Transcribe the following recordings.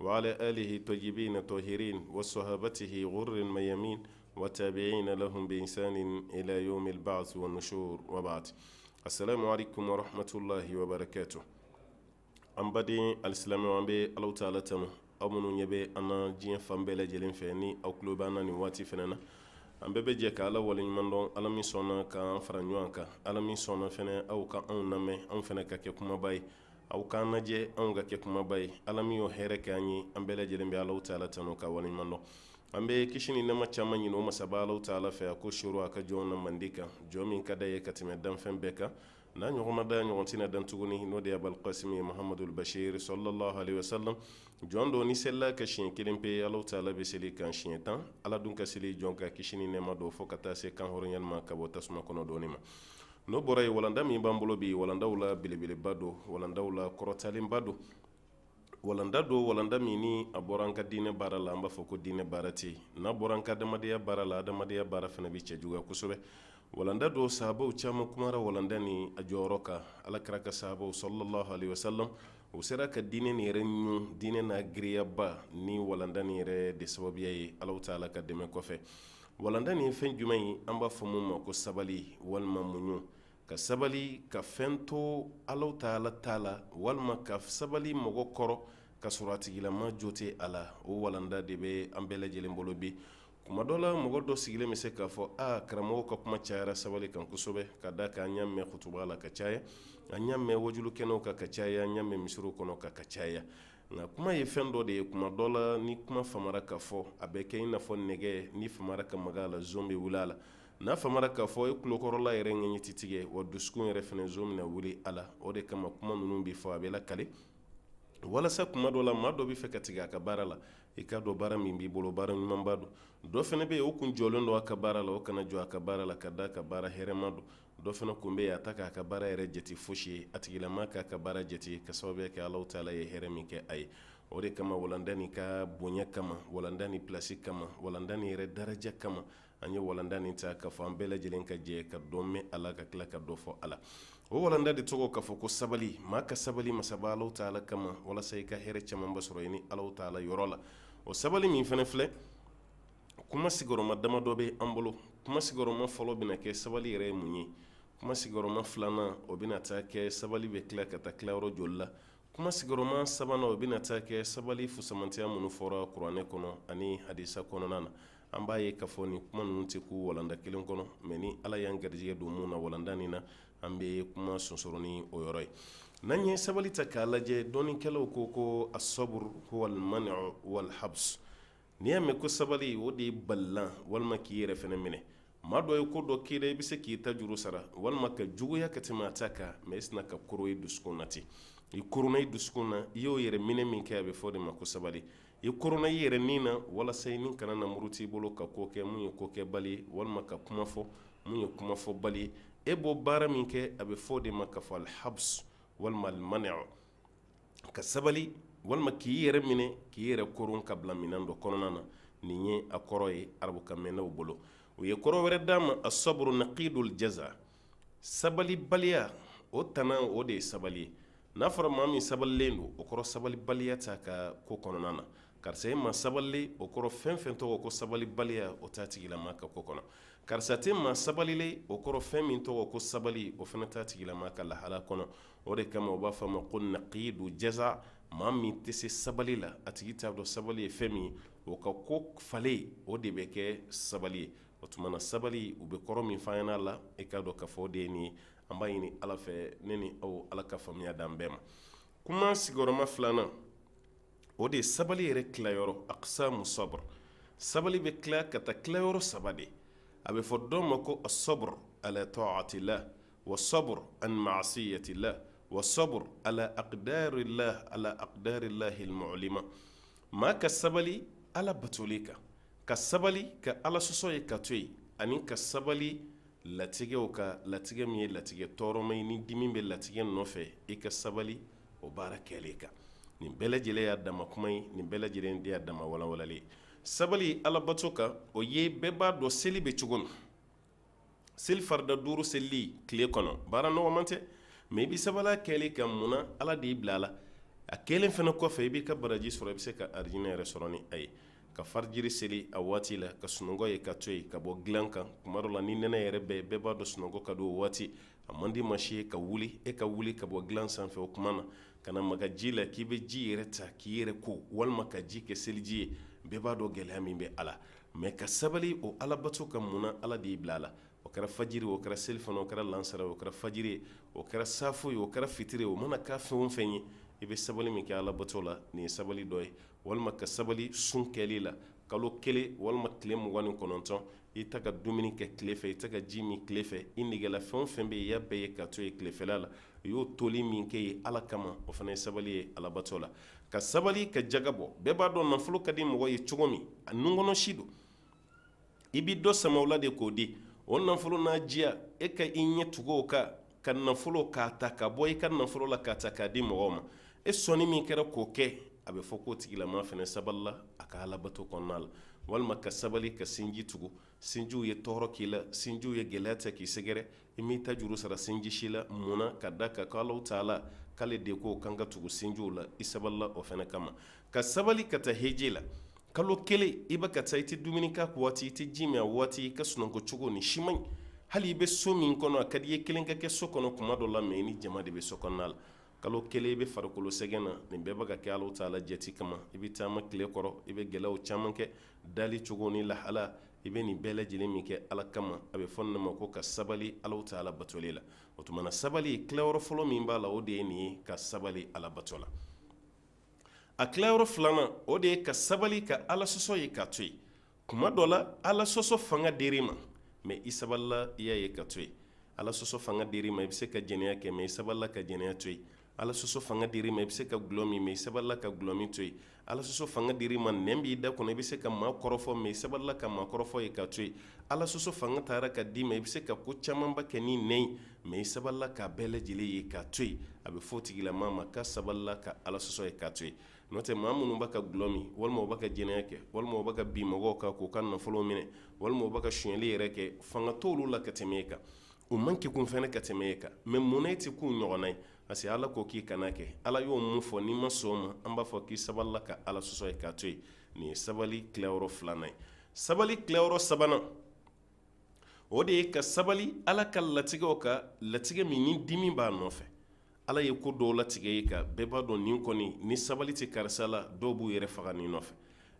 wa ala alihi tayibina tahirina wa sahabatihi guril mayamin wa tabiina lahum bi ihsanin ila yawmil baasi wa nusur wa baad asalamu aleykum wa rahmatulahi wa barakatuhu an baden alisilamɛ an bɛ ala taala tanu aw minnu ɲɛ bɛ an na diɲɛ fan bɛɛ lajɛlen fɛ ni aw kulo b'an na nin waati fana na an bɛɛ bɛ jɛ ka ala waleɲumandɔn ala min sɔnna ka an fara ɲɔgɔn kan ala min sɔnna fana aw ka anw lamɛn anw fana ka kɛ kumabaa ye aw k'an lajɛ anw ka kɛ kumabaa ye ala min y'o hɛrɛ kɛ an ye an bɛɛ lajɛlen bɛ ala taala tanu k'a waleɲumandɔn an bɛ kisi ni nɛɛma caman ɲini o masaba ala taala fɛ a k'o suuru a ka jɔn na mandi kan jɔn min ka d'a ye ka tɛmɛ danfɛn bɛɛ kan n'a ɲɔgɔn ma dan ɲɔgɔn tɛna dan tuguni n'o de ye abul kasimu muhamadul basiru salalahu alehi wasalam jɔn dɔ ni selila a kan siɲɛ kelen pe ala taala bɛ seli kan siɲɛ tan ala dun ka seli jɔn kan kisi ni nɛɛma don fo ka taa se kanhɔrɔnyali ma ka bɔ tasuma kɔnɔ don nin ma n'o bɔra yen walanda min b'an bolo bi walandaw la belebeleba don walandaw la kɔrɔtalenba don walanda don walanda min ni a bɔra an ka diinɛ baara la an b'a fɔ ko diinɛ baara tɛ n'a bɔra an ka adamadenya baara la adamadenya baara fana bɛ cɛjuguya kosɛbɛ walanda don sahabaw caman kumara walanda ni a jɔyɔrɔ kan ala kira ka sahabaw salalahu alehi wasalam u sera ka diinɛ nin yɛrɛ ɲun diinɛ n'a girinyaba ni walanda nin yɛrɛ de sababuya ye alahu taala ka dɛmɛ kɔfɛ walanda nin ye fɛn jumɛn ye an b'a fɔ min ma ko sabali walima muɲu ka sabali ka fɛn to alahu taala ta la walima ka sabali mɔgɔ kɔrɔ ka sɔrɔ a tigilama jo tɛ a la o walanda de bɛ an bɛɛ lajɛlen bolo bi kuma dɔ la mɔgɔ dɔ sigilen bɛ se k'a fɔ a karamɔgɔ ka kuma cayara sabali kan kosɛbɛ ka d'a kan an y'a mɛn kutuba la ka caya an y'a mɛn waajuli kɛnɛw kan ka caya an y'a mɛn misiriw kɔnɔ ka ka caya nka kuma ye fɛn dɔ de ye kuma dɔ la ni kuma famara ka fɔ a bɛ kɛ i n'a fɔ nɛgɛ n'i famara ka maga a la zon bɛ wuli a la n'a famara ka fɔ i kulokɔrɔla yɛrɛ ŋɛɲɛ tɛ tigɛ wa dusukun yɛrɛ fana zon bɛna wuli a la o de kama kuma ninnu bɛ fɔ a bɛ lakale walasa kuma dɔ la maa dɔ bɛ fɛ ka tigɛ a ka baara la i k'a dɔn baara min b'i bolo baara ɲumanba don dɔ fana bɛ yen o kun jɔlen don a ka baara la o kana jɔ a ka baara la ka d'a kan baara hɛrɛma don dɔ fana kun bɛ yen a t'a ka baara yɛrɛ jate fosi ye a tigilama k'a ka baara jate ka sababuya kɛ ala taala ye hɛrɛ min kɛ a ye o de kama walanda nin ka bonya kama walanda nin plasi kama walanda nin yɛrɛ daraja kama an ye walanda nin ta k'a fɔ an bɛɛ lajɛlen ka jɛ ka dɔ mɛn a la ka kila ka dɔ fɔ a la o walalanda de tɔgɔ k'a fɔ ko sabali maa ka sabali masaba ala taala kama walasa i ka hɛrɛ camanba sɔrɔ sini ala taala yɔrɔ la o sabali min fana filɛ kuma sigiyɔrɔma damadɔ bɛ an bolo kuma sigiyɔrɔma fɔlɔ bɛna kɛ sabali yɛrɛ ye mun ye kuma sigiyɔrɔma filanan o bɛna taa kɛ sabali bɛ tila ka taa tilayɔrɔ joli la kuma sigiyɔrɔma sabanan o bɛna taa kɛ sabali fusamantiya minnu fɔra kuranɛ kɔnɔ ani hadisa kɔnɔna na an b'a ye k'a fɔ nin kuma ninnu tɛ kun walanda kelen kɔnɔ mais ni ala y'an garijɛgɛ don mun na walanda nin na an bɛ kuma sonsoro ni o yɔrɔ ye n'an ye sabali ta k'a lajɛ dɔnikɛlaw ko ko as sabru huwa almaniu walhabs n'i y'a mɛn ko sabali o de ye balilan walima k'i yɛrɛ fana minɛ maa dɔ ye ko dɔ k'i la i bɛ se k'i ta juru sara walima ka juguya ka tɛmɛ a ta kan mais i sinna ka koron i dusukun na ten i koronna i dusukun na i y'o yɛrɛ minɛ min kɛ a bɛ fɔ o de ma ko sabali i koronna i yɛrɛ ni na walasa i ni kana na muruti i bolo ka ko kɛ mun ye ko kɛbali ye walima ka kuma fɔ mun ye kuma fɔbali ye e b'o baara min kɛ a bɛ fɔ o de ma k'a fɔ alhabs walima almaniu ka sabali walima k'i yɛrɛ minɛ k'i yɛrɛ koron ka bila minɛn dɔ kɔnɔna na nin ye a kɔrɔ ye arabukanmɛnnaw bolo u ye kɔrɔ wɛrɛ d'a ma as sabru naqidul jaza sabalibaliya o tana o de ye sabali ye n'a fɔra maa min sabalilen don o kɔrɔ sabalibaliya t'a ka ko kɔnɔna na karisa ye maa sabalilen o kɔrɔ fɛn fɛn tɔgɔ ko sabalibaliya o t'a tigilamaa ka ko kɔnɔ karisa tɛ maa sabalilen o kɔrɔ fɛn min tɔgɔ ko sabali o fana t'a tigilamaa ka lahala kɔnɔ o de kama u b'a fɔ a ma ko naqidul jaza maa min tɛ se sabali la a tigi t'a dɔn sabali ye fɛn min ye o ka ko falen o de bɛ kɛ sabali ye o tuma na sabali u bɛ kɔrɔ min fɔ yan na e k'a dɔn k'a fɔ o de nin ye an b'a ɲini ala fɛ ne ni aw ala ka faamuya d'an bɛɛ ma kuma sigiyɔrɔma filanan o de ye sabali yɛrɛ tilayɔrɔ aqsamu sabr sabali bɛ tila ka taa tilayɔrɔ saba de a bɛ fɔ dɔ ma ko as sabru ala ta'ati llah wa sabr an ma'siyati llah wa sabr ala aqdari llah ala aqdari llahi almu'lima maa ka sabali ala batoli kan ka sabali ka ala sɔsɔ ye ka to yen ani ka sabali latigɛw kan latigɛ min ye latigɛ tɔɔrɔma ye ni dimi bɛ latigɛ nɔfɛ i ka sabali o baara kɛlen kan nin bɛɛ lajɛlen y'a dama kuma ye nin bɛɛ lajɛlen de y'a dama walawalali ye sabali ala bato kan o ye bɛɛ b'a dɔn seli bɛ cogo min seli farida duuru selili tile kɔnɔ baara nɔgɔman tɛ mais i bɛ sabali a kɛli kan munna ala de y'i bila a la a kɛlen fana kɔfɛ i b'i ka baraji sɔrɔ i bɛ se ka alijinɛ yɛrɛ sɔrɔ ni a ye ka fajiri seli a waati la ka sunɔgɔ ye ka to yen ka bɔ dilan kan tuma dɔ la ni nɛnɛ yɛrɛ bɛ bɛɛ b'a dɔn sunɔgɔ ka di o waati a man di maa si ye ka wuli e ka wuli ka bɔ dilan sanfɛ o tuma na ka na maga ji la k'i bɛ ji yɛrɛ ta k'i yɛrɛ ko walima ka ji kɛ seliji ye bɛɛ b'a dɔn gɛlɛya min bɛ a la mɛ ka sabali o alabato kan mun na ala de y'i bila a la o kɛra fajiri o kɛra selifana o kɛra lansara o kɛra fajiri ye o kɛra safo ye o kɛra fitiri ye o mana kɛ fɛn o fɛn ye i bɛ sabali min kɛ alabato la nin ye sabali dɔ ye walima ka sabali sun kɛli la kalo kelen walima tile mugan ni kɔnɔntɔn i ta ka dumuni kɛ tile fɛ i tɛ ka ji min tile fɛ i negela fɛn o fɛn bɛ yen i y'a bɛɛ ye ka to yen tilefɛla la i y'o toli min kɛ ye ala kama o fana ye sabali ye alabato la ka sabali ka jaga bɔ bɛɛ b'a dɔn nafolo ka di mɔgɔ ye cogo min a nunkɔnɔ si don i bɛ dɔ sama o la de k'o di o nafolo n'a diya e ka i ɲɛ tugu o kan ka nafolo k'a ta ka bɔ i ka nafolo la k'a ta k'a di mɔgɔw ma e sɔnni min kɛra k'o kɛ a bɛ fɔ k'o tigilamaa fana sabalila a ka alabato kɔnɔna la walima ka sabali ka sinji tugu sinjiw ye tɔɔrɔ k'i la sinjiw ye gɛlɛya ta k'i sɛgɛrɛ i m'i ta juru sara sinji si la mun na ka da a kan ko alaw taala k'ale de ko k'an ka tugu sinjiw la i sabalila o fana kama ka sabali ka taa heji la kalo kelen i bɛ ka taa i tɛ dumuni k'a waati i tɛ ji min a waati i ka sunɔgɔ cogo nin si man ɲi hali i bɛ so min kɔnɔ a ka di i ye kelen ka kɛ so kɔnɔ kuma dɔ la mɛ i ni jama de bɛ so kɔnɔna la kalo kelen i bɛ farikolo sɛgɛn na nin bɛɛ bɛ ka kɛ alaw taala jati kama i bɛ taama tile kɔrɔ i bɛ gɛlɛyaw caman kɛ dali cogo ni lahala i bɛ nin bɛɛ lajɛlen min kɛ ala kama a bɛ fɔ nin ma ko ka sabali ala taala batoli la o tuma na sabali tilayɔrɔ fɔlɔ min b'a la o de ye nin ye ka sabali ala bato la a tilayɔrɔ filanan o de ye ka sabali ka ala sɔsɔ ye ka to yen kuma dɔ la ala sɔsɔ fanga dir'i ma mɛ i sabalila i y'a ye ka to yen ala sɔsɔ fanga dir'i ma i bɛ se ka jɛnɛya kɛ mɛ i sabalila ka jɛnɛya to yen ala sɔsɔ fanga dir'i ma i bɛ se ka gulɔ min mɛ i sabalila ka gulɔ min to yen ala sɔsɔ fanga dir'i ma nɛn b'i da kɔnɔ i bɛ se ka maa kɔrɔfɔ mɛ i sabalila ka maa kɔrɔfɔ ye ka to yen ala sɔsɔ fanga tara ka d'i ma i bɛ se ka ko camanba kɛ ni nɛn ye mɛ i sabalila k'a bɛɛ lajɛlen ye ka to yen a bɛ fɔ o tigilamaa ma k'a sabalila ka ala sɔsɔ ye ka to yen n'o tɛ maa minnu b'a ka gulɔ min walima u b'a ka jɛnɛya kɛ walima u b'a ka bin mɔgɔw kan k'u ka nafolo minɛ walima u b'a ka sonyali yɛrɛ kɛ fanga t'olu la ka tɛmɛ e kan u man kegun fana ka tɛmɛ e kan mɛ mun na e tɛ k'u ɲɔgɔnna ye parce que ala ko k'i kan'a kɛ ala y'o min fɔ n'i ma sɔn o ma an b'a fɔ k'i sabalila ka ala sɔsɔ ye ka to yen nin ye sabali tilayɔrɔ filanan ye sabali tilayɔrɔ sabanan o de ye ka sabali ala ka latigɛw kan latigɛ min ni dimi b'a nɔfɛ Ala ye ko dɔw latigɛ e kan bɛɛ b'a dɔn nin kɔni ni sabali tɛ karisa la dɔw b'u yɛrɛ faga nin nɔfɛ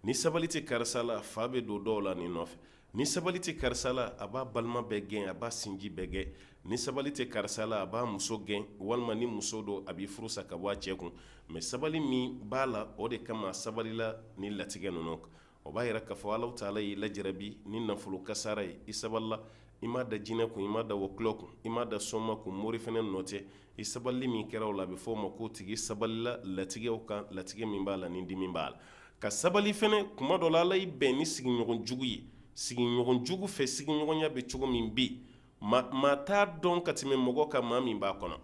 ni sabali tɛ karisa la fa bɛ don dɔw la nin nɔfɛ ni sabali tɛ karisa la a b'a balima bɛɛ gɛn a b'a sinji bɛɛ gɛn ni sabali tɛ karisa la a b'a muso gɛn walima ni muso don a b'i furu sa ka bɔ a cɛ kun mɛ sabali min b'a la o de kama a sabalila ni latigɛ ninnu o b'a yira k'a fɔ Alahu taala y'i lajarabi ni nafolo kasaara ye i sabalila i m'a da jinɛ kun i m'a da wɔkulɔ kun i m'a da sɔnma kun mori fɛnɛ nɔ tɛ i sabali min kɛra o la a bɛ fɔ o ma k'o tigi sabalila latigɛw kan latigɛ min b'a la ni dimi b'a la ka sabali fɛnɛ kuma dɔ la Ala y'i bɛn ni sigiɲɔgɔn jugu ye sigiɲɔgɔn jugu fɛ sigiɲɔgɔnya bɛ cogo min bi maa t'a dɔn ka tɛmɛ mɔgɔ kan maa min b'a kɔnɔ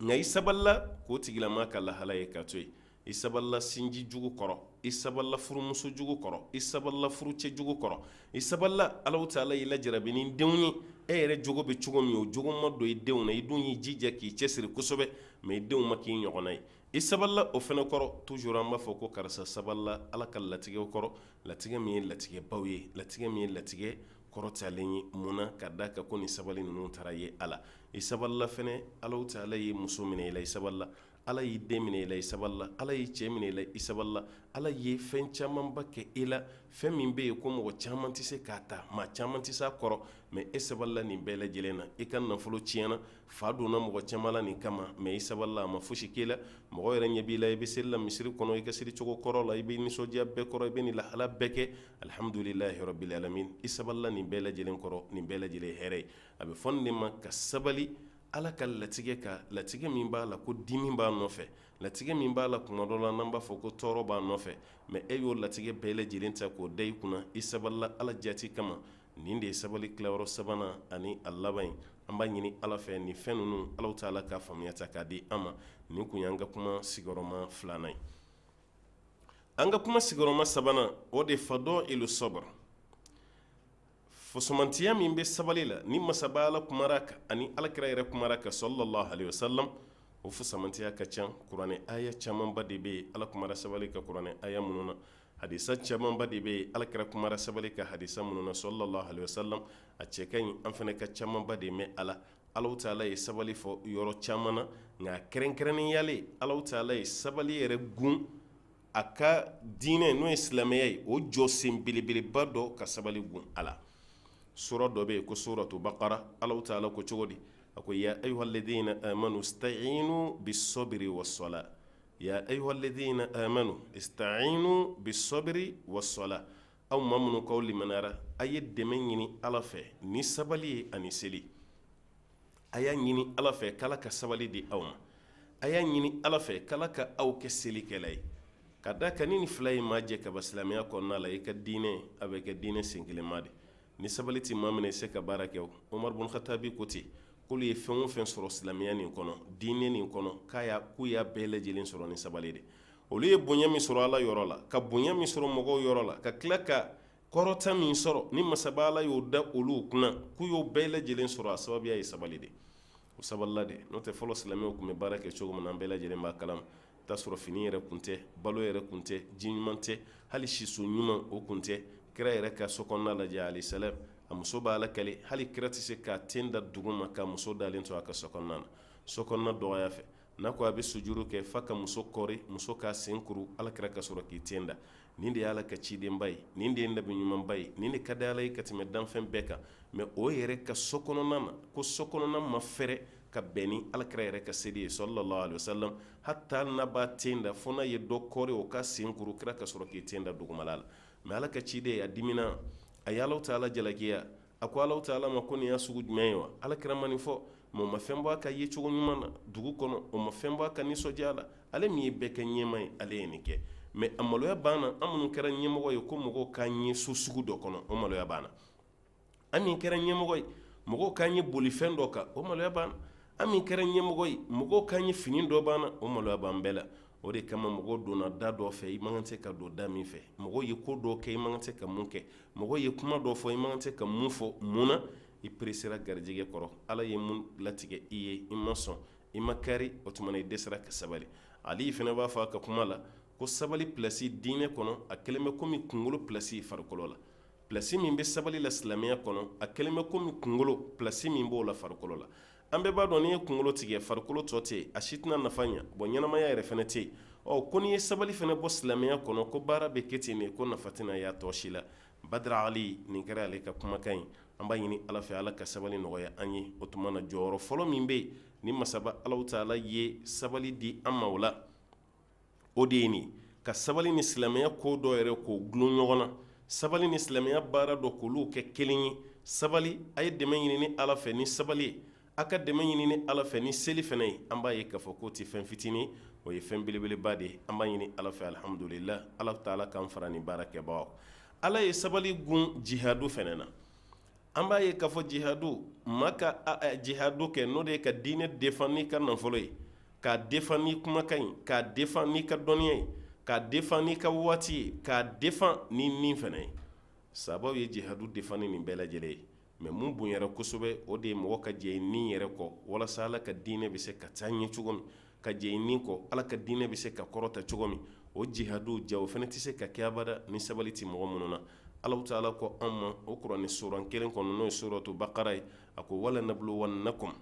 nka i sabalila k'o tigilama ka lahala ye ka to yen i sabalila sinji jugu kɔrɔ i sabalila furumuso jugu kɔrɔ i sabalila furucɛ jugu kɔrɔ i sabalila Alahu taala y'i lajarabi ni denw ye e yɛrɛ jogo bɛ cogo min o jogo ma don i denw na i dun y'i jija k'i cɛsiri kosɛbɛ mais i denw ma k'i ɲɔgɔnna ye i sabalila o fɛnɛ kɔrɔ toujours an b'a fɔ ko karisa sabalila Ala ka latigɛw kɔrɔ latigɛ min ye latigɛbaw ye latigɛ min ye latigɛ kɔrɔtalen ye munna ka da kan ko ni sabali ninnu taara ye ala i sabalila ala taala ye muso minɛ i la i sabalila ala y'i den minɛ i la i sabalila ala y'i cɛ minɛ i la i sabalila ala ye fɛn camanba kɛ e la fɛn min bɛ yen ko mɔgɔ caman tɛ se k'a ta maa caman tɛ se a kɔrɔ mais e sabalila nin bɛɛ lajɛlen na e ka nafolo tiɲɛna fa donna mɔgɔ caman la nin kama mais i sabalila a ma foyisi k'i la mɔgɔ yɛrɛ ɲɛ b'i la i bɛ seli la misiri kɔnɔ i ka seli cogo kɔrɔ la i bɛ nisɔndiya bɛɛ kɔrɔ i bɛ nin lahala bɛɛ kɛ Alihamdulilahi rabili alamin i sabalila nin bɛɛ lajɛlen kɔrɔ nin bɛɛ lajɛlen hɛrɛ ye a bɛ fɔ nin de ma ka sabali Ala ka latigɛ kan latigɛ min b'a la ko dimi b'a nɔfɛ latigɛ min b'a la kuma dɔ la n'an b'a fɔ ko tɔɔrɔ b'a nɔfɛ mais e y'o latigɛ bɛɛ lajɛlen ta k'o da i kunna i sabalila Ala jati kama nin de ye sabali tilayɔrɔ sabanan ani a laban ye an b'a ɲini Ala fɛ nin fɛn ninnu Alahu taala ka faamuyata k'a di an ma nin kun y'an ka kuma sigiyɔrɔma filanan ye. an ka kuma sigiyɔrɔma sabanan o de fadɔyilu sɔbiri fusamantiya min bɛ sabali la ni masaba ala kumara kan ani alakira yɛrɛ kumara kan salalahu aleyihi wasalamu o fusamantiya ka ca kuranɛ aya camanba de bɛ yen ala kumara sabali kan kuranɛ aya minnu na hadisa camanba de bɛ yen alakira kumara sabali kan hadisa minnu na salalahu aleyihi wasalamu a cɛ ka ɲi an fana ka camanba de mɛn a la alahu taala ye sabali fɔ yɔrɔ caman na nka kɛrɛnkɛrɛnnenya la alahu taala ye sabali yɛrɛ gun a ka diinɛ n'o ye silamɛya ye o jɔsen belebeleba dɔ ka sabali gun a la sura dɔ bɛ yen ko suratu bakara alahu taala ko cogo di a ko ya ayuha lazina amanu sitayinu bi sɔbiri wasɔla ya ayuha lazina amanu sitayinu bi sɔbiri wasɔla aw maa minnu k'aw limaniyara a ye dɛmɛ ɲini ala fɛ ni sabali ye ani seli a y'a ɲini ala fɛ k'ala ka sabali di aw ma a y'a ɲini ala fɛ k'ala ka aw kɛ selikɛla ye ka da kan ni nin fila ye maa jɛ ka ban silamɛya kɔnɔna la i ka diinɛ a bɛ kɛ diinɛ senkelenma de ni sabali tɛ maa min na i se ka baara kɛ umaru bun katabi ko ten k'olu ye fɛn o fɛn sɔrɔ silamɛya nin kɔnɔ diinɛ nin kɔnɔ k'u y'a bɛɛ lajɛlen sɔrɔ ni sabali de olu ye bonya min sɔrɔ ala yɔrɔ la ka bonya min sɔrɔ mɔgɔw yɔrɔ la ka tila ka kɔrɔta min sɔrɔ ni masaba ala y'o da olu kunna k'u y'o bɛɛ lajɛlen sɔrɔ a sababuya ye sabali de o sabalila de n'o tɛ fɔlɔ silamɛw tun bɛ baara kɛ cogo min na an bɛɛ lajɛlen b'a kalama t'a sɔrɔ fini yɛrɛ kun tɛ balo yɛrɛ kun tɛ ji ɲuman tɛ hali siso ɲuman o kun tɛ kira yɛrɛ ka so kɔnɔna lajɛ alayhi salam a muso b'a lakali hali kira tɛ se k'a ten da duguma ka muso dalen to a ka so kɔnɔna na so kɔnɔna dɔgɔya fɛ n'a ko a bɛ sujuru kɛ f'a ka muso kɔri muso k'a sen kuru alakira ka sɔrɔ k'i ten da nin de y'ala ka cidenba ye nin de ye nabi ɲumanba ye nin de ka di ala ye ka tɛmɛ danfɛn bɛɛ kan mɛ o yɛrɛ ka so kɔnɔna na ko so kɔnɔna ma fɛrɛ ka bɛn ni alakira yɛrɛ ka seli ye sallallahu alayhi wasallam hata n'a b'a ten da fo n'a ye dɔ kɔri o k'a sen kuru kira ka sɔrɔ k'i ten da dugumala la mɛ ala ka ciden a dimina a ye alahu taala jalakiya a ko alahu taala ma ko nin y'a sugu jumɛn ye wa alakira ma nin fɔ mɛ o ma fɛn bɔ a ka yecogo ɲuman na dugu kɔnɔ o ma fɛn bɔ a ka nisɔndiya la ale min ye bɛɛ ka ɲɛmaa ye ale ye nin kɛ mɛ a maloya b'an na an minnu kɛra ɲɛmɔgɔ ye ko mɔgɔw k'an ye so sugu dɔ kɔnɔ o maloya b'an na an min kɛra ɲɛmɔgɔ ye mɔgɔw k'an ye bolifɛn dɔ kan o maloya b'an na an min kɛra ɲɛmɔgɔ ye mɔgɔw k'an ye fini dɔ b'an na o maloya b'an bɛɛ la o de kama mɔgɔ donna da dɔ fɛ i man kan se ka don da min fɛ mɔgɔ ye ko dɔ kɛ i man kan se ka mun kɛ mɔgɔ ye kuma dɔ fɔ i man kan se ka mun fɔ mun na i peresera garijɛgɛ kɔrɔ ala ye mun latigɛ i ye i ma sɔn i ma kari o tuma na i dɛsɛra ka sabali ali fana b'a fɔ a ka kuma la ko sabali plasi diinɛ kɔnɔ a kɛlen bɛ kɔmi kunkolo plasi farikolo la plasi min bɛ sabali la silamɛya kɔnɔ a kɛlen bɛ kɔmi kunkolo plasi min b'o la farikolo la an bɛɛ b'a dɔn n'i ye kunkolo tigɛ farikolo tɔ tɛ yen a si tɛna nafa ɲɛ bɔn ɲɛnamaya yɛrɛ fana tɛ yen ɔ ko n'i ye sabali fana bɔ silamɛya kɔnɔ ko baara bɛ kɛ ten de ko nafa tɛna y'a tɔ si la badara ali nin kɛra ale ka kumakan ye an b'a ɲini ala fɛ ala ka sabali nɔgɔya an ye o tuma na jɔyɔrɔ fɔlɔ min bɛ yen ni masaba alahu taala ye sabali di an ma o la o de ye nin ka sabali ni silamɛya ko dɔ yɛrɛ k'o gulon ɲɔgɔn na sabali ni silamɛya baara dɔ k'olu kɛ kelen ye sabali a ye dɛmɛ ɲini ni ala fɛ ni sabali ye a ka dɛmɛ ɲini ni ala fɛ ni seli fana ye an b'a ye k'a fɔ k'o tɛ fɛn fitinin o ye fɛn belebeleba de ye an b'a ɲini ala fɛ alihamudulila alahu taala k'an fara nin baara kɛbagaw ala ye sabali gulon jihadu fana na an b'a ye k'a fɔ jihadu maa ka jihadu kɛ n'o de ye ka diinɛ defan n'i ka nafolo ye k'a defan n'i kumakan ye k'a defan n'i ka dɔnniya ye k'a defan n'i ka waati ye k'a defan n'i ni fana ye sabaw ye jihadu defini nin bɛɛ lajɛlen ye mɛ mun bonyara kosɛbɛ o de ye mɔgɔ ka jɛn i ni yɛrɛ kɔ walasa ala ka diinɛ bɛ se ka taa ɲɛ cogo min ka jɛn i ni kɔ ala ka diinɛ bɛ se ka kɔrɔta cogo min o jihadu ja o fana tɛ se ka kɛ abada ni sabali tɛ mɔgɔ minnu na alahu taala ko an ma o kuranɛ suran kelen kɔnɔ n'o ye suratu bakara ye a ko wala nabluwannakum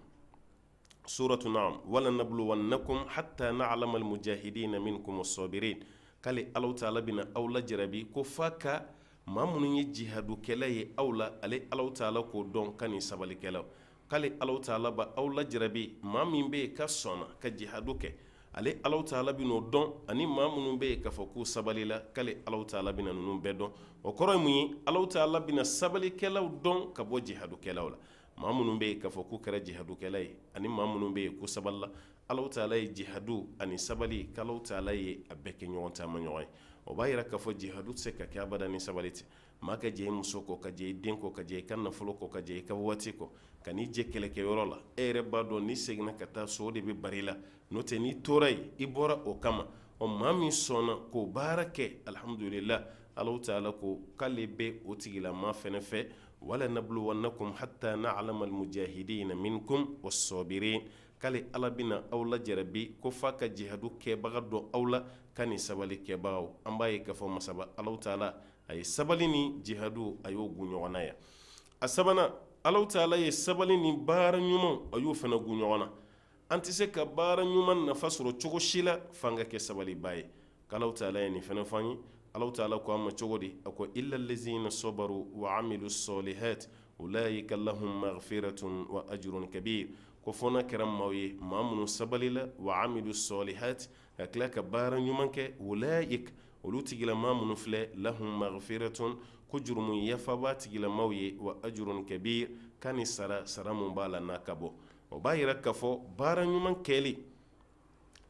suratu naam wala nabluwannakum hatta na'lama almujahidina minkum as-sabirin k'ale Alahu taala bina aw lajarabi ko f'a ka maa minnu ye jihadukɛla ye aw la ale Alahu taala k'o dɔn ka nin sabalikɛlaw k'ale Alahu taala b'aw lajarabi maa min bɛ yen ka sɔnna ka jihadu kɛ ale Alahu taala bin'o dɔn ani maa minnu bɛ yen k'a fɔ k'u sabalila k'ale Alahu taala bina ninnu bɛɛ dɔn o kɔrɔ ye mun ye Alahu taala bina sabalikɛlaw dɔn ka bɔ jihadukɛlaw la maa minnu bɛ yen k'a fɔ k'u kɛra jihadukɛla ye ani maa minnu bɛ yen k'u sabalila Alahu taala ye jihadu ani sabali ko Alahu taala ye a bɛɛ kɛ ɲɔgɔn taamaɲɔgɔn ye o b'a yira k'a fɔ jihadu tɛ se ka kɛ abada ni sabali tɛ maa ka jɛ i muso kɔ ka jɛ i den kɔ ka jɛ i ka nafolo kɔ ka jɛ i ka waati kɔ ka n'i jɔ kɛlɛkɛyɔrɔ la e yɛrɛ b'a dɔn n'i seginna ka taa so o de bɛ bara i la n'o tɛ n'i tora yen i bɔra o kama ɔ maa min sɔnna k'o baara kɛ alihamudulila Alahu taala ko k'ale bɛ o tigilamaa fana fɛ wala nabluwannakum hata na'lama almujahidina minkum was-sabirin k'ale ala bɛna aw lajarabi ko f'a ka jihadu kɛbaga dɔn aw la ka ni sabali kɛbagaw an b'a ye k'a fɔ masaba Alahu taala a ye sabali ni jihadu a y'o gun ɲɔgɔn na yan a sabanan Alahu taala ye sabali ni baara ɲuman a y'o fana gun ɲɔgɔn na an tɛ se ka baara ɲuman nafa sɔrɔ cogo si la f'an ka kɛ sabalibaa ye k'Alahu taala ye nin fana fɔ an ye Alahu taala ko an ma cogo di a ko illa allazina sabaru wa amilu salihat ulaika lahum maghfiratun wa ajrun kabir ko fo n'a kɛra maaw ye maa minnu sabalila wa amilu salihati ka tila ka baara ɲuman kɛ ulaika olu tigilamaa minnu filɛ lahum maghfiratun ko jurumu yafa b'a tigilamaaw ye wa ajrun kabir ka ni sara sara min b'a la n'a ka bon o b'a yira k'a fɔ baara ɲuman kɛli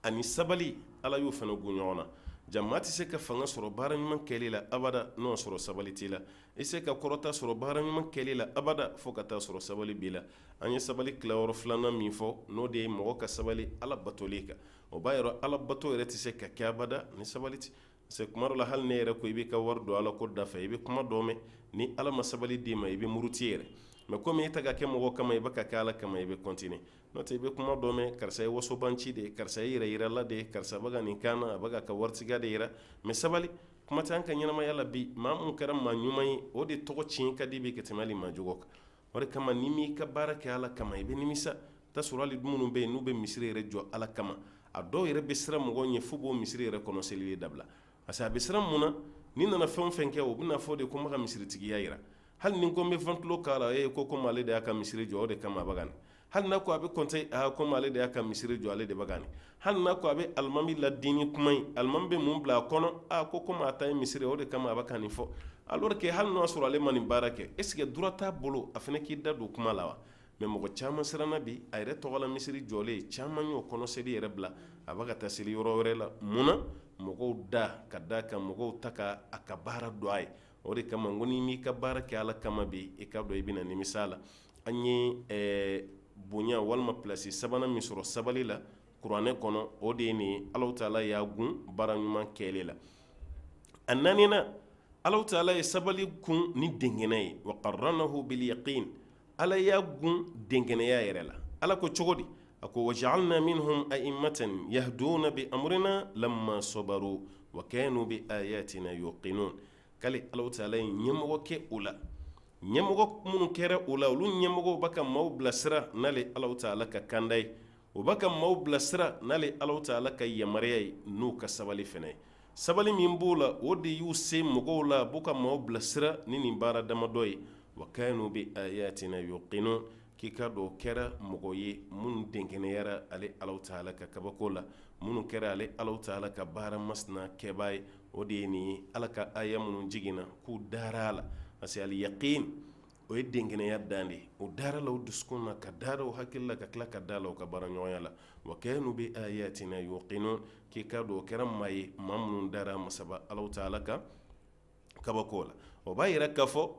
ani sabali ala y'o fana gun ɲɔgɔn na jama tɛ se ka fanga sɔrɔ baara ɲuman kɛli la abada n'a sɔrɔ sabali t'i la i se ka kɔrɔta sɔrɔ baara ɲuman kɛli la abada fo ka taa sɔrɔ sabali b'i la an ye sabali tilayɔrɔ filanan min fɔ n'o de ye mɔgɔ ka sabali ala batoli kan o b'a yira ala bato yɛrɛ tɛ se ka kɛ abada ni sabali tɛ parce que kuma dɔ la hali n'e yɛrɛ ko i b'i ka wari don ala ko dafɛ i bɛ kuma dɔ mɛn ni ala ma sabali d'i ma i bɛ muruti yɛrɛ mais komi i tɛ k'a kɛ mɔgɔ kama i bɛ k'a kɛ ala kama i bɛ continuer n'o tɛ i bɛ kuma dɔ mɛn karisa ye wasobanci de ye karisa ye yɛrɛyirala de ye karisa bɛ ka nin kan a b'a ka waritigiya de yira mais sabali kuma tɛ an ka ɲɛnamaya la bi maa min kɛra maa ɲuman ye o de tɔgɔ tiɲɛ ka di bi ka tɛmɛ hali maa jugu kan o de kama n'i m'i ka baara kɛ ala kama i bɛ nimisa taa sɔrɔ hali minnu bɛ yen n'u bɛ misiri yɛrɛ jɔ ala kama a dɔw yɛrɛ bɛ siran mɔgɔw ɲɛ f'u b'o misiri yɛrɛ kɔnɔ selili dabila parce que a bɛ siran mun na ni n nana fɛn o fɛn kɛ o bɛna fɔ de ko n bɛ ka misiritigiya yira hali ni n ko n bɛ ventilo k'a la ee ko komi ale de y'a ka misiri jɔ o de kama a bɛ ka nin hali n'a ko a bɛ kɔnte aa komi ale de y'a ka misiri jɔ ale de bɛ ka nin hali n'a ko a bɛ alimami ladini kuma ye alimami bɛ mun bila a kɔnɔ aa ko komi a ta ye misiri o de kama a bɛ ka nin fɔ alors que hali n'a sɔrɔ ale ma nin baara kɛ est ce que droit t'a bolo a fana k'i da don kuma la wa mais mɔgɔ caman siranna bi a yɛrɛ tɔgɔ la misiri jɔlen caman y'o kɔnɔ seli yɛrɛ bila a bɛ ka taa seli yɔrɔ wɛrɛ la mun na mɔgɔw da ka da kan mɔgɔw ta ka a ka baara dɔn a ye o de kama n ko n'i m'i ka baara kɛ ala kama bi i ka dɔn i bɛna nimisa a la an ye ɛɛ bonya walima plasi sabanan min sɔrɔ sabali la kuranɛ kɔnɔ o de ye nin ye alahu taala y'a kun baara ɲuman kɛli la a naaninan alahu taala ye sabali kun ni denkɛnɛya ye wa qarranahu bil yaqin ala y'a kun denkɛnɛya yɛrɛ la ala ko cogo di a ko wa jaalna minhum aimmatan yahduna bi amrina lamma sabaru wa kaanu bi ayatina yuqinun k'ale alahu taala ye ɲɛmɔgɔ kɛ o la ɲɛmɔgɔ minnu kɛra o la olu ɲɛmɔgɔw bɛ ka maaw bilasira n'ale alahu taala ka kanda ye o bɛ ka maaw bilasira n'ale alahu taala ka yamaruya ye n'u ka sabali fɛnɛ ye sabali min b'o la o de y'u se mɔgɔw la a b'u ka maaw bilasira ni nin baara damadɔ ye wa kaanu bi ayatina yuqinun k'i ka dɔn o kɛra mɔgɔ ye minnu denkɛnɛyara ale alahu taala ka kabako la minnu kɛra ale alahu taala ka baara masina kɛbaa ye o de ye nin ye ala ka aya minnu jiginna k'u dara a la parce que al yaqin o ye denkɛnɛya dan de ye o dara la o dusukun na ka dara o hakili la ka tila ka da la o ka baara ɲɔgɔnya la wa kaanu bi ayatina yuqinun k'i ka dɔn o kɛra maa ye maa minnu dara masaba alahu taala ka kabako la o b'a yira k'a fɔ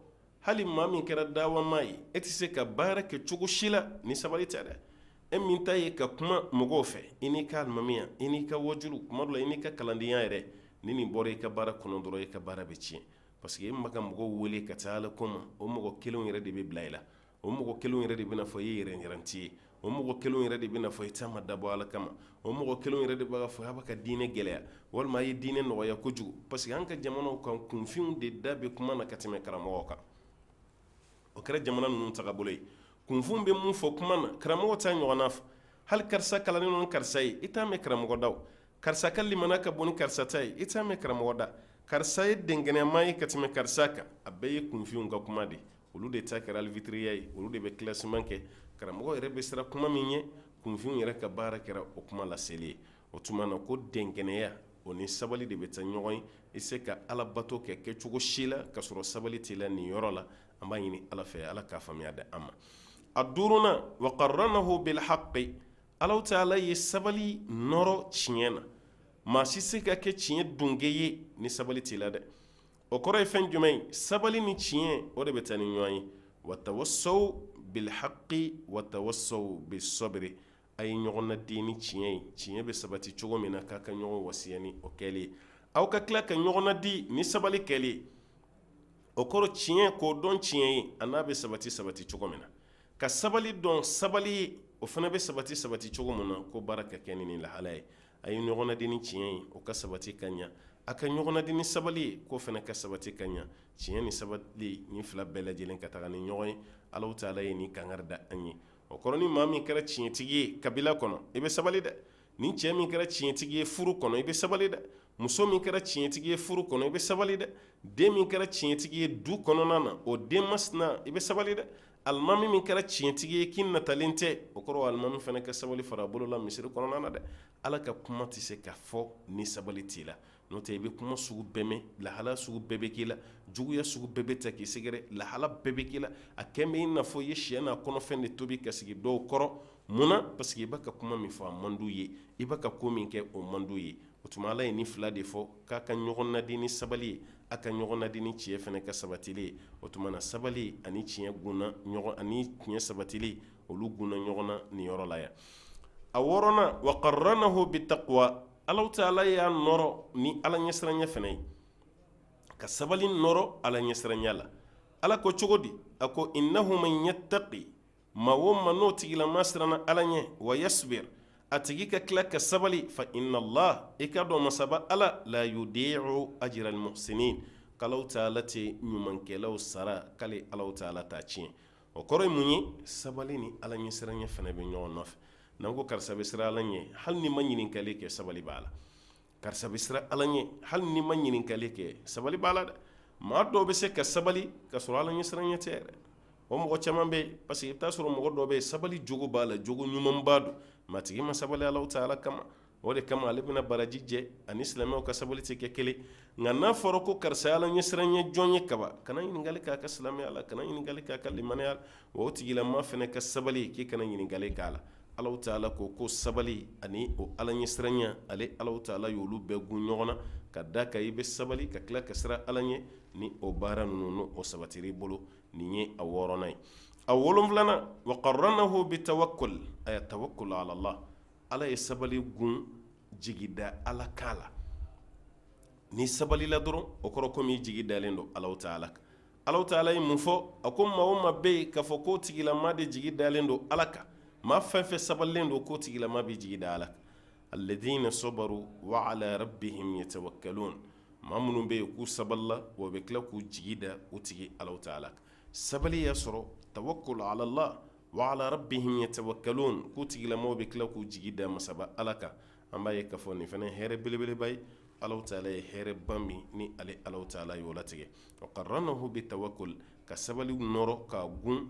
hali maa min kɛra dawa maa ye e tɛ se ka baara kɛ cogo si la ni sabali tɛ dɛ e min ta ye ka kuma mɔgɔw fɛ i n'i ka alimamiya i n'i ka wajulu kuma dɔ la i n'i ka kalandenya yɛrɛ ni nin bɔra i ka baara kɔnɔ dɔrɔn i ka baara bɛ tiɲɛ parce que e b'a ka mɔgɔw wele ka taa ala ko ma o mɔgɔ kelenw yɛrɛ de bɛ bila i la o mɔgɔ kelenw yɛrɛ de bɛna fɔ i ye yɛrɛyiranti ye o mɔgɔ kelen yɛrɛ de bɛna fɔ i ta ma dabɔ ala kama o mɔgɔ kelen yɛrɛ de b'a fɔ a bɛ ka diinɛ gɛlɛya walima a ye diinɛ nɔgɔya kojugu parce que an ka jamanaw kan kunfinw de da bɛ kuma na ka tɛmɛ karamɔgɔw kan o kɛra jamana ninnu taabolo ye kunfin bɛ min fɔ kuma na karamɔgɔ t'a ɲɔgɔn fɔ hali karisa kalannen don ni karisa ye i t'a mɛn karamɔgɔ da karisa ka limana ka bon ni karisa ta ye i t'a mɛn karamɔgɔ da karisa ye denkɛnɛma ye ka tɛmɛ karisa kan a bɛɛ ye kunfinw ka kuma de ye olu de ta kɛra arbitiriya ye olu de bɛ classement kɛ karamɔgɔ yɛrɛ bɛ siran kuma min ɲɛ kunfinw yɛrɛ ka baara kɛra o kuma laseli ye o tuma na ko denkɛnɛya o ni sabali de bɛ taa ɲɔgɔn ye i se ka ala bato kɛ kɛcogo si la ka sɔrɔ sabali t'i la nin yɔrɔ la an b'a ɲini ala fɛ ala k'a faamuya di an ma a duurunan wa qarranahu bil haqqi alahu taala ye sabali nɔrɔ tiɲɛ na maa si se ka kɛ tiɲɛ dunke ye ni sabali t'i la dɛ o kɔrɔ ye fɛn jumɛn ye sabali ni tiɲɛ o de bɛ taa ni ɲɔgɔn ye watawasaw bilhaqi watawasaw bisabiri a ye ɲɔgɔn nadi ni tiɲɛ ye tiɲɛ bɛ sabati cogo min na k'a ka ɲɔgɔn wasiya ni o kɛli ye aw ka tila ka ɲɔgɔn nadi ni sabali kɛli ye o kɔrɔ tiɲɛ k'o dɔn tiɲɛ ye ani a bɛ sabati sabati cogo min na ka sabali dɔn sabali ye o fana bɛ sabati sabati cogo min na k'o baara ka kɛ ni ni lahala ye a ye ɲɔgɔn nadi ni tiɲɛ ye o ka sabati ka ɲa a ka ɲɔgɔn nadi ni sabali ye k'o fana ka sabati ka ɲa tiɲɛ ni sabali ni fila bɛɛ lajɛlen ka taga ni ɲɔgɔn ye ala taala ye ni kangari da an ye o kɔrɔ ni maa min kɛra tiɲɛtigi ye kabila kɔnɔ i bɛ sabali dɛ ni cɛ min kɛra tiɲɛtigi ye furu kɔnɔ i bɛ sabali dɛ muso min kɛra tiɲɛtigi ye furu kɔnɔ i bɛ sabali dɛ den min kɛra tiɲɛtigi ye du kɔnɔna na o den masina i bɛ sabali dɛ alimami min kɛra tiɲɛtigi ye k'i natalen tɛ o kɔrɔ alimami fana ka sabali fara a bolo la misiri kɔnɔna na dɛ ala ka kuma tɛ se ka fɔ ni sabali t'i la n'o tɛ i bɛ kuma sugu bɛɛ mɛn lahala sugu bɛɛ bɛ k'i la juguya sugu bɛɛ bɛ taa k'i sɛgɛrɛ lahala bɛɛ bɛ k'i la a kɛn bɛ i n'a fɔ i ye siyɛ n'a kɔnɔfɛn de tobi ka sigi dɔw kɔrɔ mun na parce que i b'a ka kuma min fɔ a man d'u ye i b'a ka ko min kɛ o man d'u ye o tuma ala ye ni fila de fɔ k'a ka ɲɔgɔn nadi ni sabali ye a ka ɲɔgɔn nadi ni tiɲɛ fana ka sabatili ye o tuma na sabali ani tiɲɛ ani tiɲɛ sabatili olu gunna ɲɔgɔn na ni yɔrɔ la yan a wɔɔrɔnan wa qaranahu bitaqwa ala taala y'a nɔrɔ ni ala ɲɛsiranya fana ye ka sabali nɔrɔ ala ɲɛsiranya la ala ko cogo di a ko innahu man yataqi maa o maa n'o tigilama siranna ala ɲɛ wa yasbir a tigi ka tila ka sabali fa inna allah i ka dɔn masaba ala la yudi'u ajira almuhsinin k'ala taala tɛ ɲumankɛlaw sara k'ale ala taala t'a tiɲɛ o kɔrɔ ye mun ye sabali ni ala ɲɛsiranya fana bɛ ɲɔgɔn nɔfɛ n'an ko karisa bɛ siran ala ɲɛ hali n'i ma ɲininkali kɛ sabali b'a la karisa bɛ siran ala ɲɛ hali n'i ma ɲininkali kɛ sabali b'a la dɛ maa dɔw bɛ se ka sabali ka sɔrɔ ala ɲɛsiranya tɛ yɛrɛ o mɔgɔ caman bɛ yen parce que i t'a sɔrɔ mɔgɔ dɔ bɛ yen sabali jogo b'a la jogo ɲumanba don maa tigi ma sabali ala taala kama o de kama ale bɛna baraji jɛ ani silamɛw ka sabali tɛ kɛ kelen nka n'a fɔra ko karisa ye ala ɲɛsiranya jɔn ye kaban kana ɲininkali k'a ka silamɛya la kana ɲininkali k'a ka limaniya la o tigilama fana ka sabali k'i kana ɲininkali k'a la Ala taala ko ko sabali ani o ala ɲɛsiranya ale ala taala y'olu bɛɛ gun ɲɔgɔn na ka d'a kan i bɛ sabali ka tila ka siran ala ɲɛ ni o baara ninnu n'o sabatira i bolo nin ye a wɔɔrɔnan ye a wolo wolonwulanan wa qaranahu bitawakul a ye tawakul alallah ala ye sabali gun jigida ala kan la n'i sabalila dɔrɔn o kɔrɔ kɔmi i jigi dalen don ala taala kan Alahu taala ye mun fɔ? A ko maa o maa bɛ yen k'a fɔ k'o tigilama de jigi dalen don Ala kan, maa fɛn o fɛn sabalilen don k'o tigilama b'i jigi da Ala kan. Aladiina sɔbaru wa alaa rabihim yatawakaloon maa minnu bɛ yen k'u sabalila wa u bɛ tila k'u jigi da u tigi Alahu taala kan. Sabali y'a sɔrɔ tawakul alala wa alaa rabihim yatawakaloon k'u tigilamaw bɛ tila k'u jigi da masaba Ala kan. an b'a ye k'a fɔ nin fana ye hɛrɛ belebeleba ye Alahu taala ye hɛrɛba min ni ale Alahu taala y'o latigɛ wa karanahu bitawakul ka sabali nɔrɔ k'a gulon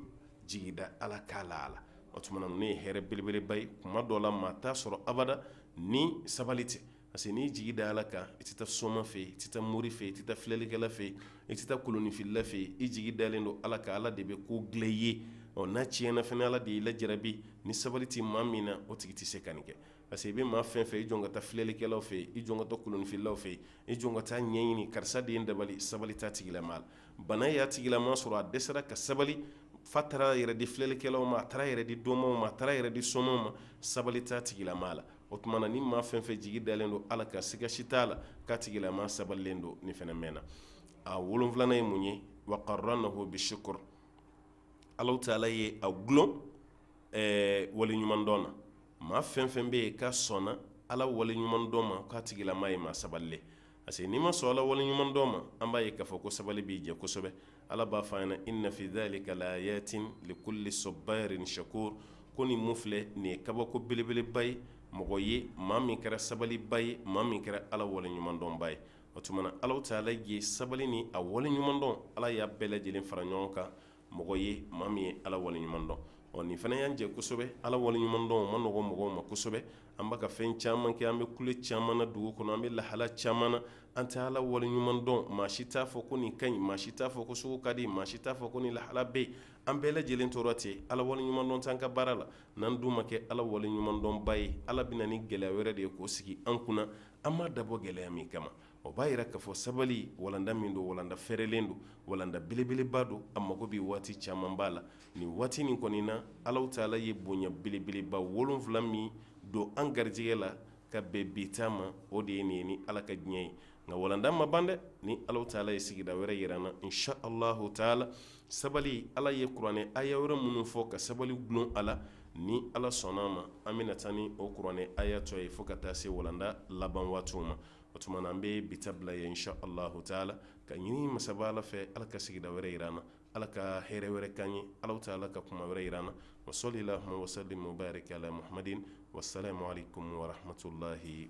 jigida ala kan la a la o tuma na nin ye hɛrɛ belebeleba ye kuma dɔ la maa t'a sɔrɔ abada ni sabali tɛ parce que n'i jigi da ala kan i tɛ taa soma fɛ yen i tɛ taa mori fɛ yen i tɛ taa filɛlikɛla fɛ yen i tɛ taa kolonfilila fɛ yen i jigi dalen don ala kan ala de bɛ ko dilan i ye ɔ n'a tiɲɛna fana ala de y'i lajarabi ni sabali tɛ maa min na o tigi tɛ se ka nin kɛ parce que i bɛ maa fɛn fɛn ye i jɔn ka taa filɛlikɛlaw fɛ yen i jɔn ka taa kolonfililaw fɛ yen i jɔn ka taa ɲɛɲini karisa de ye n dabali sabali t'a tigilama la bana y'a tigilama sɔrɔ a dɛsɛra ka sabali f'a taara yɛrɛ di filɛlikɛlaw ma a taara yɛrɛ di dɔnmaw ma a taara yɛrɛ di somaw ma sabali t'a tigilama la o tuma na ni maa fɛn fɛn jigi dalen don ala kan siga si t'a la k'a tigilama sabalilen don nin fana mɛnna a wolonfilanan ye mun ye wa karanahu bishukur Alahu taala ye a dulon wale ɲuman dɔn na maa fɛn fɛn bɛ yen k'a sɔnna ala wale ɲuman dɔn ma k'a tigilama ye maa sabalilen parce que n'i ma sɔn ala wale ɲuman dɔn ma an b'a ye k'a fɔ ko sabali b'i jɛ kosɛbɛ ala b'a fɔ an ɲɛna inna fi zalika laayatin likuli sɔbaarin shakuur ko nin mun filɛ nin ye kabako belebeleba ye mɔgɔ ye maa min kɛra sabaliba ye maa min kɛra ala wale ɲuman dɔnba ye o tuma na Alahu taala ye sabali ni a wale ɲuman dɔn ala y'a bɛɛ lajɛlen fara ɲɔgɔn kan mɔgɔ ye maa min ye ala wale ɲuman dɔn ɔ nin fana y'an jɛ kosɛbɛ ala wale ɲuman dɔn man nɔgɔ mɔgɔw ma kosɛbɛ an bɛka fɛn caman kɛ an bɛ kule caman na dugu kɔnɔ an bɛ lahala caman na an tɛ ala wale ɲuman dɔn maa si t'a fɔ ko nin ka ɲi maa si t'a fɔ ko sugu ka di maa si t'a fɔ ko nin lahala bɛ yen an bɛɛ lajɛlen tɔɔrɔ ten ala wale ɲuman dɔn t'an ka baara la n'an dun ma kɛ ala wale ɲuman dɔnba ye ala bɛ na ni gɛlɛya wɛrɛ de ye k'o sigi an kunna an ma dabɔ gɛlɛya min kama o b'a yira k'a fɔ sabali walanda min don walanda fɛrɛlen don walanda belebeleba don a mago bɛ waati camanba la nin waati nin kɔni na Alahu taala ye bonya belebeleba wolonfila min don an garijɛgɛ la ka bɛn bi ta ma o de ye nin ye ni Ala ka diɲɛ ye nka walanda ma ban dɛ ni Alahu taala ye sigida wɛrɛ yira an na insha Alahu taala sabali Ala ye kuranɛ aya wɛrɛ minnu fɔ ka sabali dulon a la ni Ala sɔnn'a ma an bɛna taa ni o kuranɛ aya tɔ ye fo ka taa se walanda laban waatiw ma o tuma an bɛ bi bila ye sh ala lata la ka ɲini masa ala fɛ ala ka sigida wɛrɛ jiraran na ala ka hɛrɛɛ wɛrɛ ka ɲɛ ala ta ala ka kuma wɛrɛ jiraran na o so de la wasa de ma yɛrɛ kɛ ala mahad wa sa ma ko warato layi